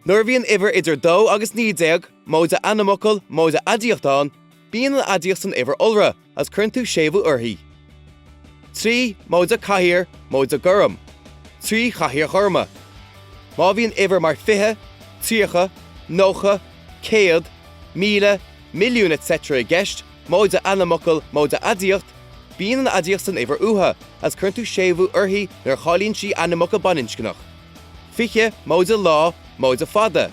Nuair a bhíonn uimhir idir dó agus naoi déag, móide ainmfhocal, móide aidiacht, ann, bíonn an aidiacht san uimhir iolra. as cuireann tú séimhiú uirthi. Trí móide cathaoir móide gorm, trí chathaoir ghorma. Má bhíonn uimhir mar fiche, tríocha, nócha, céad, míle, milliún etc i gceist, móide ainmfhocal móide aidiacht, bíonn an aidiacht san uimhir uatha as cuireann tú séimhiú uirthi nuair a cháilíonn sí ainmfhocal baininscneach. Fiche móide lá móide fada,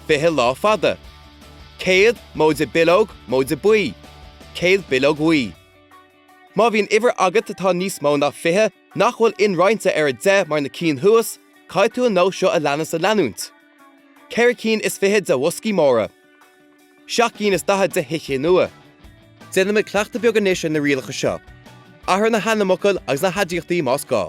fiche lá fada. 100, móide bileog, móide buí. 100 bileog bhuí. Má bhíonn uimhir agat atá níos mó ná 20 nach bhfuil inroinnte ar a 10 mar na cinn thuas, caithfidh tú an nós seo a leanas a leanúint, ceithre cinn is fiche de bhoscaí móra. seacht gcinn is daichead de thicéid nua. Déanfaimid cleachtadh beag anois ar na rialacha seo. Athraigh na hainmfhocail agus na haidiachtaí más gá.